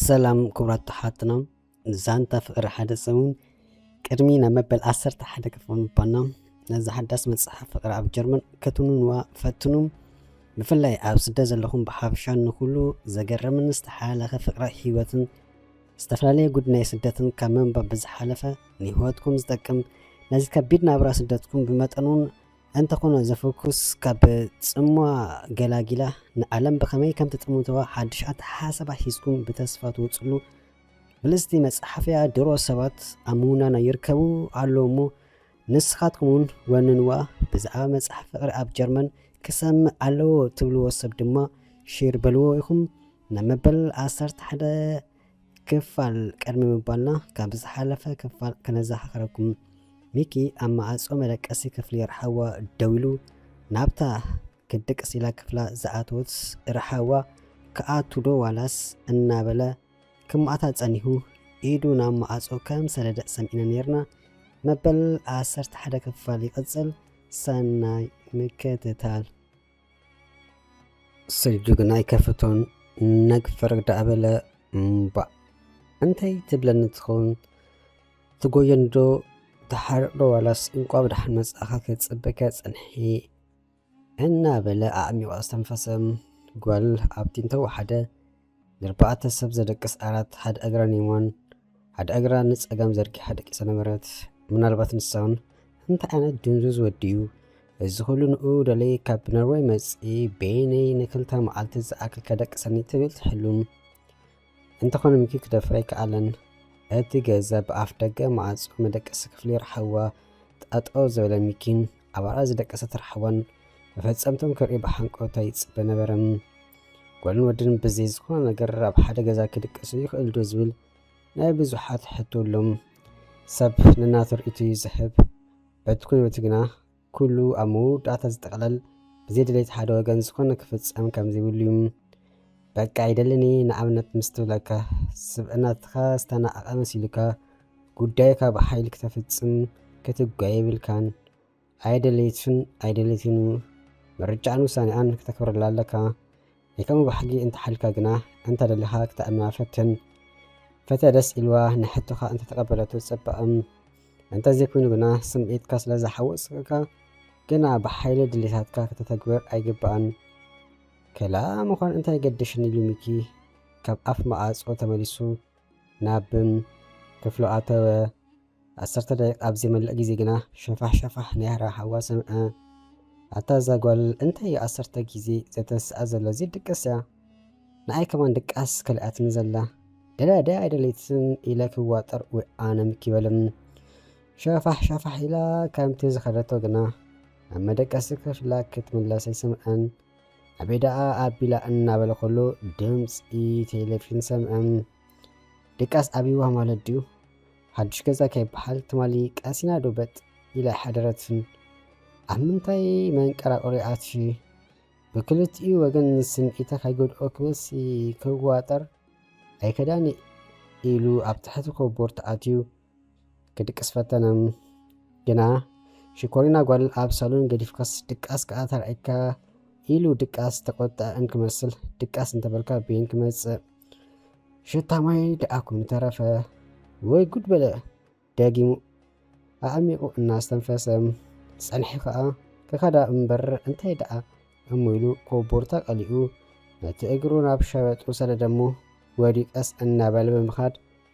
ሰላም ክብራት ተሓትና ዛንታ ፍቅሪ ሓደ ሰሙን ቅድሚ ናብ መበል ዓሰርተ ሓደ ክፍል ምባና ነዚ ሓዳስ መፅሓፍ ፍቅሪ ኣብ ጀርመን ከትንዋ ፈትኑ ብፍላይ ኣብ ስደት ዘለኹም ብሓፈሻ ንኩሉ ዘገረምን ዝተሓላለኸ ፍቅሪ ህይወትን ዝተፈላለየ ጉድ ናይ ስደትን ካብ ምንባብ ብዝሓለፈ ንህይወትኩም ዝጠቅም ነዚ ከቢድ ናብራ ስደትኩም ብመጠኑን እንተኾነ ዘፍኩስ ካብ ጽምዋ ገላጊላ ንዓለም ብኸመይ ከም ትጥምትዋ ሓድሽ ኣተሓሳስባ ሒዝኩም ብተስፋ ትወጽሉ ብልጽቲ መጽሓፍያ ድሮ ሰባት ኣብ ምውናና ይርከቡ ኣለዉ እሞ ንስኻትኩም እውን ወንንዋ ብዛዕባ መጽሓፍ ፍቕሪ ኣብ ጀርመን ክሰምዕ ኣለዎ ትብልዎ ሰብ ድማ ሼር በልዎ ኢኹም ናብ መበል ዓሰርተ ሓደ ክፋል ቅድሚ ምባልና ካብ ዝሓለፈ ክፋል ከነዘኻኽረኩም ሚኪ ኣብ መዓጾ መደቀሲ ክፍሊ ርሓዋ ደው ኢሉ ናብታ ክድቅስ ኢላ ክፍላ ዝኣተወት ርሓዋ ክኣቱ ዶ ዋላስ እናበለ ክማእታ ጸኒሁ ኢዱ ናብ መዓጾ ከም ሰደደ ሰሚዕና ነርና መበል 11 ክፋል ይቕጽል ሰናይ ምክትታል ስልጁ ግን ኣይከፍቶን ነግ ፈረግ ዳኣ በለ እምባእ እንታይ ትብለኒ ትኸውን ትጎየን ዶ ትሓርቕ ዶ ዋላስ እንቋ ብድሓን መጻእኻ ክጽበካ ጽንሒ እናበለ ኣዕሚቑ ኣስተንፈሰ ጓል ኣብቲ እንተወሓደ ንኣርባዕተ ሰብ ዘደቅስ ዓራት ሓደ እግራ ኔማን ሓደ እግራ ንጸጋም ዘርጊሓ ደቂሳ ነበረት። ምናልባት ንሳውን እንታይ ዓይነት ድንዙዝ ወዲዩ እዚ ኩሉ ንኡ ደለይ ካብ ኖርወይ መጺ በይነይ ንክልተ መዓልቲ ዝኣክል ከደቅሰኒ ትብል ትሕሉም እንተኾነ ምኪ ክደፍረ ኣይከኣለን። እቲ ገዛ ብኣፍ ደገ መዓጹ መደቀሲ ክፍሊ ረሓዋ ጠጠው ዝበለ ሚኪን ኣባራ ዝደቀሰ ተራሕቦን መፈጸምቶም ክርኢ ብሓንቆታ ይጽበ ነበረ። ጓልን ወድን ብዘይ ዝኾነ ነገር ኣብ ሓደ ገዛ ክድቀሱ ይኽእል ዶ ዝብል ናይ ብዙሓት ሕቶ ኣሎ። ሰብ ንናቱ ርእይቶ እዩ ዝህብ። በቲ ኩነቱ ግና ኩሉ ኣብ መወዳእታ ዝጠቕለል ብዘይ ድሌት ሓደ ወገን ዝኾነ ክፍጸም ከም ዘይብሉ እዩ። በቃ ይደለኒ ንኣብነት ምስ ትብለካ ስብእናትኻ ዝተናቐቐ መሲሉካ ጉዳይካ ብሓይሊ ክተፍጽም ክትጓየ የብልካን። ኣየደለየትን ኣይደለየትን እዩ። ምርጫኣን ውሳኔኣን ክተክብረላ ኣለካ። ናይ ከምኡ ባህጊ እንተሓልካ ግና እንተደሊኻ ክተእምና ፈትን። ፈተ ደስ ኢልዋ ንሕቶኻ እንተተቀበለቶ ጽባእም እንተዘይኮይኑ ግና ስምዒትካ ስለ ዝሓወስካ ግና ብሓይሊ ድሌታትካ ከተተግብር ኣይግባእን። ከላ ምዃን እንታይ ገደሽኒ ኢሉ ሚኪ ካብ ኣፍ መኣጾ ተመሊሱ ናብም ክፍሉ ኣተወ። ዓሰርተ ደቂቕ ኣብ ዘይመልእ ግዜ ግና ሸፋሕ ሸፋሕ ናይራ ሓዋ ሰምዐ። ኣታ እዛ ጓል እንታይ እዩ ዓሰርተ ግዜ ዘተንስኣ ዘሎ ዘይድቅስያ? ንኣይ ከማን ድቃስ ከሊኣትኒ ዘላ። ደልያ ድያ ኣይደለይትን ኢለ ክዋጠር ወይ ኣነም ኪበልም ሸፋሕ ሸፋሕ ኢላ ከምቲ ዝኸደቶ ግና ኣብ መደቀሲ ክፍላ ክትምለስ ኣይሰምዐን። ኣበይ ደኣ ኣቢላ እናበለ ኩሉ ድምፂ ቴሌቪዥን ሰምዐ። ድቃስ ኣብይዋ ማለት ድዩ? ሓዱሽ ገዛ ከይበሃል ትማሊ ቀሲና ዶ በጥ ኢላ ኣይሓደረትን? ኣብ ምንታይ መንቀራቕሪ ኣትዩ? ብክልቲኡ ወገን ስምዒታ ከይጎድኦ ክበሲ ክዋጠር ኣይከዳን ኢሉ ኣብ ትሕቲ ኮቦርት ኣትዩ ክድቅስ ፈተነ ግና ሽኮሪና ጓል ኣብ ሳሎን ገዲፍካስ ድቃስ ከዓ ተራእካ ኢሉ ድቃስ ተቆጥዐ እንክመስል ድቃስ እንተበልካ ቤን ክመፅእ ሽታ ማይ ደኣ ኮይኑ ተረፈ። ወይ ጉድ በለ ደጊሙ ኣዕሚቑ እናስተንፈሰ ፀንሒ ከዓ ከካዳ እምበር እንታይ ደኣ እሞ ኢሉ ኮቦርታ ቀሊኡ ነቲ እግሩ ናብ ሸበጡ ሰደደሞ ወዲቀስ እናበለ ብምኻድ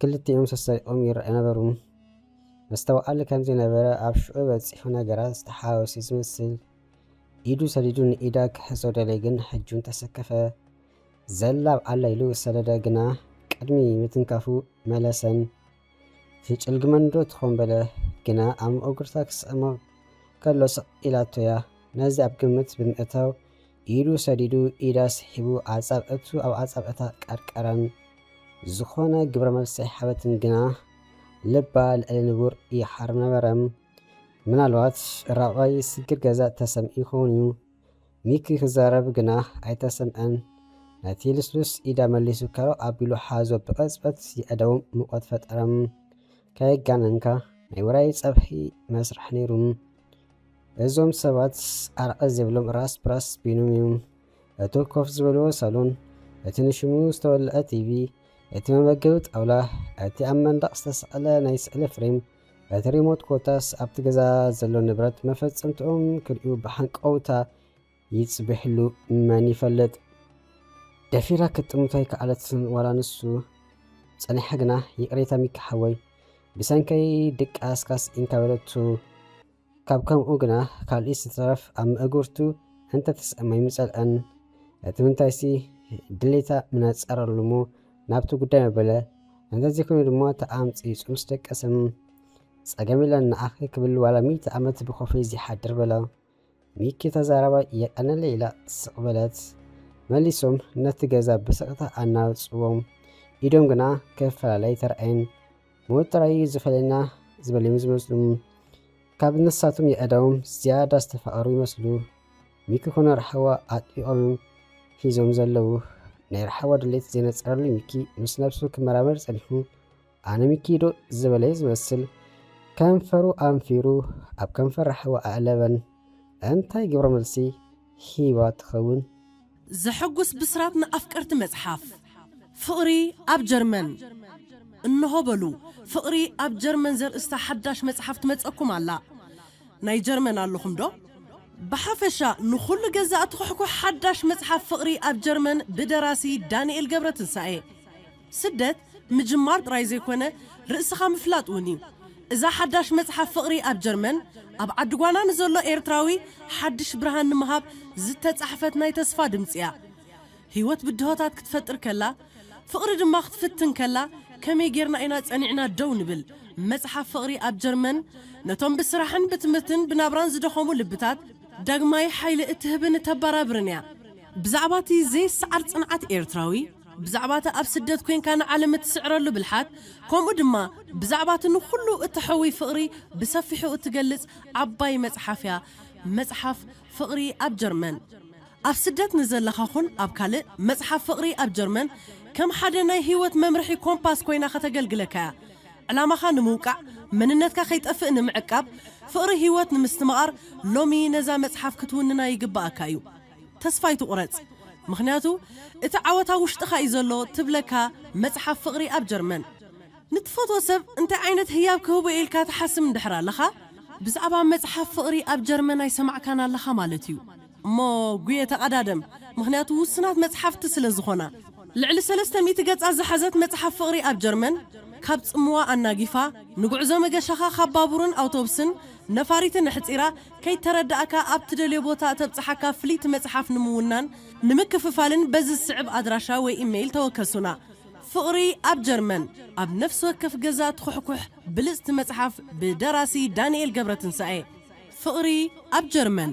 ክልቲኦም ሰሳይቆም ይረኣዩ ነበሩ። መስተውዓሊ ከም ዘይነበረ ኣብ ሽዑ በጺሑ ነገራት ዝተሓዋወሰ ዝመስል ኢዱ ሰዲዱ ንኢዳ ክሕዞ ደለየ ግን ሕጁን ተሰከፈ። ዘላብ ኣላ ኢሉ ሰደደ ግና ቅድሚ ምትንካፉ መለሰን። ትጭልግመንዶ ትኾን በለ ግና ኣብ መኦግርታ ክስዕሞ ከሎ ስቕ ኢላቶያ ነዚ ኣብ ግምት ብምእታው ኢዱ ሰዲዱ ኢድ ኣስሒቡ ኣጻብዕቱ ኣብ ኣጻብዕታ ቀርቀረን። ዝኾነ ግብረ መልሲ ኣይሓበትን ግና ልባ ልዕሊ ንቡር ይሓር ነበረ። ምናልባት ራብዓይ ስግር ገዛ ተሰምዑ ይኸውን እዩ። ሚኪ ክዛረብ ግና ኣይተሰምዐን። ነቲ ልስሉስ ኢዳ መሊሱ ከረው ኣቢሉ ሓዞ ብቐጽበት የዕደዎም ሙቐት ፈጠረ። ከየጋነንካ ናይ ውራይ ጸብሒ መስርሕ ነይሩ። እዞም ሰባት ኣርዐ ዝብሎም ራስ ፕራስ ቢኑም እዩም። እቱ ኮፍ ዝበልዎ ሳሎን፣ እቲ ንሽሙ ዝተወልዐ ቲቪ፣ እቲ መመገቢ ጣውላ፣ እቲ ኣብ መንደቕ ዝተሰቐለ ናይ ስእሊ ፍሬም፣ እቲ ሪሞት ኮታስ ኣብቲ ገዛ ዘሎ ንብረት መፈጸምትኦም ክርእዩ ብሃንቀውታ ይጽብሕሉ መን ይፈልጥ። ደፊራ ክትጥምቶ ኣይከኣለትን ዋላ ንሱ ጸኒሓ ግና ይቅሬታ ሚኪ ሓወይ ብሰንከይ ድቃስካስ ኢንካ በለቱ ካብ ከምኡ ግና ካልኢስ ዝተረፍ ኣብ መእግርቱ እንተ ተስእም ኣይምጸልኣን እቲ ምንታይሲ ድሌታ ምነጸረሉሙ ናብቲ ጉዳይ መበለ እንተዘይኮይኑ ድማ ተኣምጺጹ ምስ ደቀሰም ጸገም የለን ንኣኺ ክብል ዋላ ሚእቲ ዓመት ብኮፈይ ዘይሓድር በላ። ሚኪ ተዛራባይ የቀነለይ ኢላ ስቅ በለት መሊሶም ነቲ ገዛ ብስቅታ ኣናውጽዎም ኢዶም ግና ክፈላለይ ተርኣየን ሞት ጥራይ እዩ ዝፈለየና ዝበልዮም ዝመስሉ ካብ ንሳቶም የእዳዎም ዝያዳ ዝተፋቀሩ ይመስሉ ሚኪ ኮነ ራሕዋ ኣጥቢቆም ሒዞም ዘለዉ ናይ ራሕዋ ድሌት ዘይነጸረሉ ሚኪ ምስ ነብሱ ክመራመር ጸኒሑ ኣነ ሚኪ ዶ ዝበለየ ዝመስል ከንፈሩ ኣንፊሩ ኣብ ከንፈር ራሕዋ ኣእለበን እንታይ ግብረ መልሲ ሂባ ትኸውን? ዘሐጉስ ብስራት ንኣፍቀርቲ መጽሓፍ ፍቕሪ ኣብ ጀርመን! እንሆ በሉ ፍቕሪ ኣብ ጀርመን ዘርእስታ ሓዳሽ መጽሓፍ ትመጸኩም ኣላ። ናይ ጀርመን ኣለኹም ዶ? ብሓፈሻ ንኹሉ ገዛእቲ ኩሕኩሕ ሓዳሽ መጽሓፍ ፍቕሪ ኣብ ጀርመን ብደራሲ ዳንኤል ገብረትንሳኤ። ስደት ምጅማር ጥራይ ዘይኮነ ርእስኻ ምፍላጥ ውን እዩ። እዛ ሓዳሽ መጽሓፍ ፍቕሪ ኣብ ጀርመን ኣብ ዓዲ ጓና ንዘሎ ኤርትራዊ ሓድሽ ብርሃን ንምሃብ ዝተጻሕፈት ናይ ተስፋ ድምጺ እያ። ህይወት ብድሆታት ክትፈጥር ከላ ፍቕሪ ድማ ክትፍትን ከላ ከመይ ጌርና ኢና ጸኒዕና ደው ንብል? መጽሓፍ ፍቕሪ ኣብ ጀርመን ነቶም ብስራሕን ብትምህርትን ብናብራን ዝደኸሙ ልብታት ዳግማይ ሓይሊ እትህብን እተባራብርን እያ። ብዛዕባ እቲ ዘይሰዓር ጽንዓት ኤርትራዊ፣ ብዛዕባ'ቲ ኣብ ስደት ኴንካ ንዓለም እትስዕረሉ ብልሓት፣ ከምኡ ድማ ብዛዕባ'ቲ ንዅሉ እተሕውይ ፍቕሪ ብሰፊሑ እትገልጽ ዓባይ መጽሓፍ'ያ፣ መጽሓፍ ፍቕሪ ኣብ ጀርመን። ኣብ ስደት ንዘለኻ ኹን ኣብ ካልእ፣ መጽሓፍ ፍቕሪ ኣብ ጀርመን ከም ሓደ ናይ ህይወት መምርሒ ኮምፓስ ኰይና ኸተገልግለካ'ያ። ዕላማኻ ንምውቃዕ፣ መንነትካ ኸይጠፍእ ንምዕቃብ፣ ፍቕሪ ህይወት ንምስትምቓር፣ ሎሚ ነዛ መጽሓፍ ክትውንና ይግብኣካ'ዩ። ተስፋ ኣይትቑረጽ ምኽንያቱ እቲ ዓወት ኣብ ውሽጥኻ እዩ ዘሎ ትብለካ መጽሓፍ ፍቕሪ ኣብ ጀርመን። ንትፈትዎ ሰብ እንታይ ዓይነት ህያብ ክህቦ እየ ኢልካ ትሓስም እንድሕር ኣለኻ፣ ብዛዕባ መጽሓፍ ፍቕሪ ኣብ ጀርመን ኣይሰማዕካን ኣለኻ ማለት እዩ እሞ ጉየ ተቐዳደም ምኽንያቱ ውሱናት መጽሓፍቲ ስለ ዝኾና። ልዕሊ ሰለስተ ሚእቲ ገጻት ዝሓዘት መጽሓፍ ፍቕሪ ኣብ ጀርመን ካብ ጽምዋ ኣናጊፋ ንጉዕዞ መገሻኻ ካብ ባቡርን ኣውቶብስን ነፋሪትን ኣሕጺራ፣ ከይተረዳእካ ኣብ ትደልዮ ቦታ እተብጽሓካ ፍልይቲ መጽሓፍ ንምውናን፣ ንምክፍፋልን በዚ ዝስዕብ ኣድራሻ ወይ ኢመይል ተወከሱና። ፍቕሪ ኣብ ጀርመን ኣብ ነፍሲ ወከፍ ገዛ ትኹሕኩሕ ብልጽቲ መጽሓፍ ብደራሲ ዳንኤል ገብረትንሳኤ። ፍቕሪ ኣብ ጀርመን!